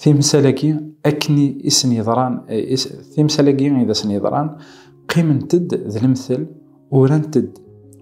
Timsal-agi akken i sen-yeḍran, timsal-agi i d asen-yeḍran, qqiment-d d lemtel, urant-d,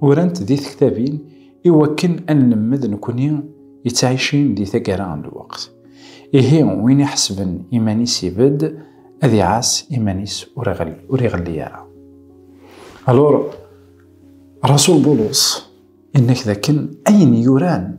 urant di tektabin i wakken ad nlemmed nekni yettɛicin di taggara n lweqt. Ihi win iḥesben iman-is ibedd, ad iɛass iman-is ur iɣelli ara. Alors, Rasul Bulus yenna-k dakken ayen yuran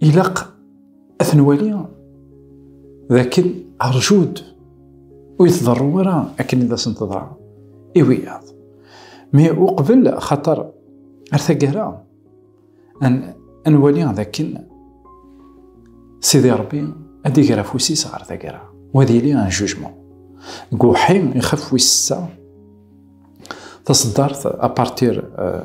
ilaq ad ten-wali d akken rjud ur yetḍerru ara akken id asen-teḍra i wiyaḍ mi uqbel xaṭer ar taggara ad nwali d akken sidi rebbi ad iger afus-is ɣer taggara wa ad yili an jujmu deg uḥi ixaf wis sa taṣeddart apartir euh,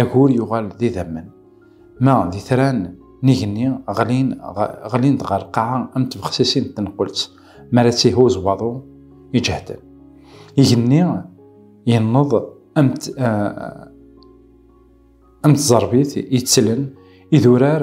Agur yuɣal d idammen. Ma d itran n igenni ɣlin, ɣlin-d ɣer lqaɛa am tbexsisin n tenqult mi ara tt-ihuz waḍu iǧehden. Igenni yenneḍ am am tẓerbit yettlen idurar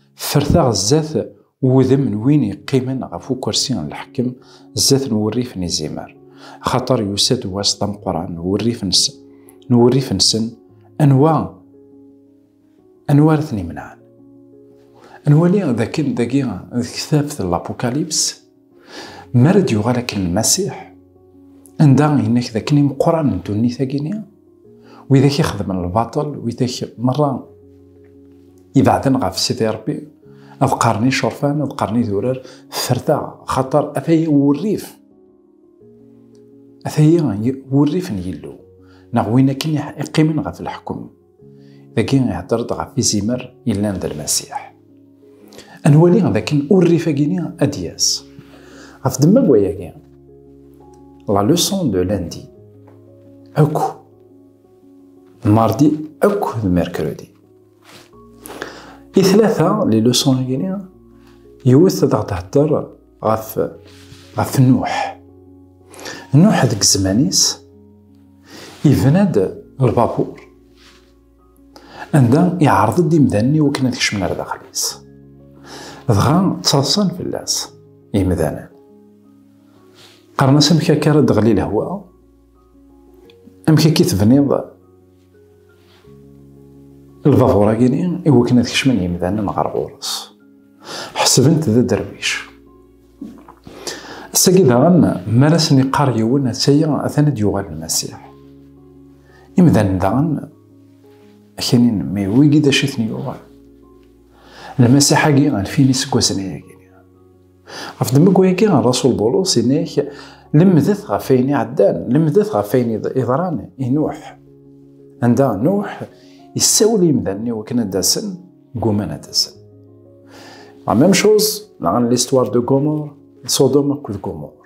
Ferteɣ zdat wudem n win yeqqimen ɣef ukersi n leḥkem, zdat n wurrif n izimer. Axaṭer yusa-d wass d ameqqran n wurrif-nsen, n wurrif-nsen, anwa, anwa ara ten-imenɛen? Ad nwali dakken dagi deg kitabt n Lapukalyps, Mi ara d-yuɣal akken Lmasiḥ, anda yenna-k d akken imeqqran n dunnit-agi-ni, widak i xedmen lbaṭel, widak merra ibeɛden ɣef Sidi Rebbi, ad qqaren icerfan, ad qqaren idurar, ferta, xaṭer ataya wurrif. Ataya wurrif n Yillu, neɣ win akken iqqimen ɣef leḥkem. dagi ihedder-d ɣef izimer yellan d lmasiḥ ad nwali dakken urrif agini ad d-yas ɣef demma n wayagi la leçon de lundi akk mardi akk d mercredi i tlata li leçon agini yiwet ad aɣ-d-hedder ɣef ɣef Nuḥ Nuḥ deg zzman-is yebna-d lbabuṛ anda iɛreḍ-d imdanen i wakken ad kecmen ar daxel-is dɣa ttaḍsan fell-as imdanen qqaren-as amek akka ara d-ɣli lehwa amek akka i tebniḍ Lbabuṛ-agi-ni i wakken ad kecmen yimdanen ɣer ɣur-s. Ḥesbent d aderwic. Ass-agi daɣen, mi ara sen-iqqar yiwen, ass-agi atan ad d-yuɣal Lmasiḥ. Imdanen daɣen, akinin, mi wigi d acu i ten-yuɣal. Lmasiḥ-agi, alfin iseggasen ayagi. Ɣef ddemmek-agi, Rasul Bulus inek, lemdet ɣef ayen iɛeddan, lemdet ɣef ayen iḍran i Nuḥ. Anda Nuḥ yessawel i yimdanen i wakken ad d-asen, gguman ad d-asen. La même chose, la l'histoire de Gomorre, Sodom akked Gomorre.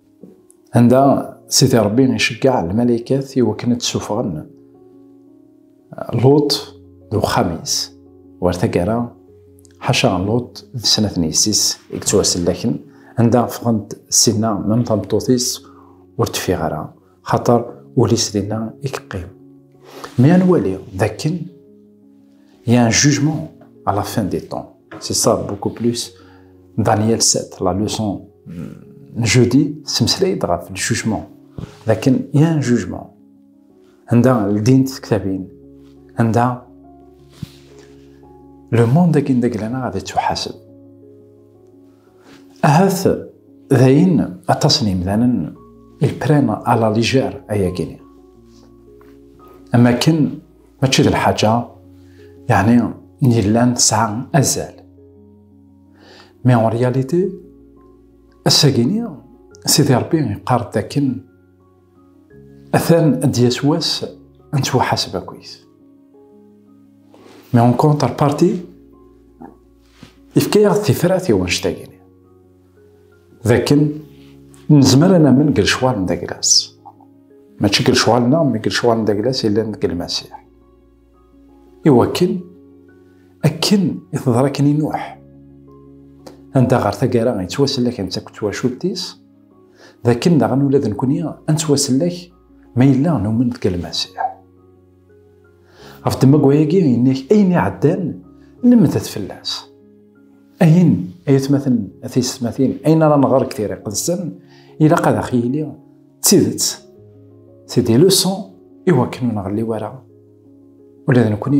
Anda Sidi Ṛebbi iceggeɛ lmalaykat i wakken ad d-ssuffɣen Luṭ d uxxam-is. War taggara, ḥaca Luṭ d snat n yessi-s i yettwasellaken, anda ffɣent ssinna, mem tameṭṭut-is ur teffiɣ ara. xaṭer ul-is dinna i yeqqim. Mi ad nwali dakken il y a un jugement à la fin des temps. C'est ça beaucoup plus Daniel 7, la leçon jeudi, semmeslay-d ɣef le jugement. Dakken il y a un jugement. Anda ldin tektabin, anda le monde akin deg lana ad yettuḥaseb. Ahat dayen aṭas n yimdanen ils prennent à la légère ayagi-nni. Am akken mačči d lḥaǧa yeɛni n yellan tesɛa azal. Mais en réalité, ass-agi-nni Sidi Rebbi yeqqar-d dakken atan ad d-yas wass ad nettwaḥaseb akkit. Mais en contrepartie, Yefka-yaɣ-d tifrat i wanect-agini. D akken nezmer ad namen deg lecɣal n daglas. Mačči deg lecɣal-nneɣ, mi deg lecɣal n daglas yellan deg Lmasiḥ. Iwakken, akken i teḍra akken i Nuḥ. Anda ɣer taggara yettwasellak netta akked twacult-is, d akken daɣen ula d nekkni ad nettwasellek ma yella numen deg Lmasiḥ. Ɣef tmagwa-agi, yenna-ak ayen iɛeddan, lemdet fell-as. Ayen, ay atmaten, a tiysetmatin, ayen ara nɣer deg tira iqedsen, ilaq ad aɣ-yili d tidet. C'est des leçons iwakken ur nɣelli wara. Ula d nekkni,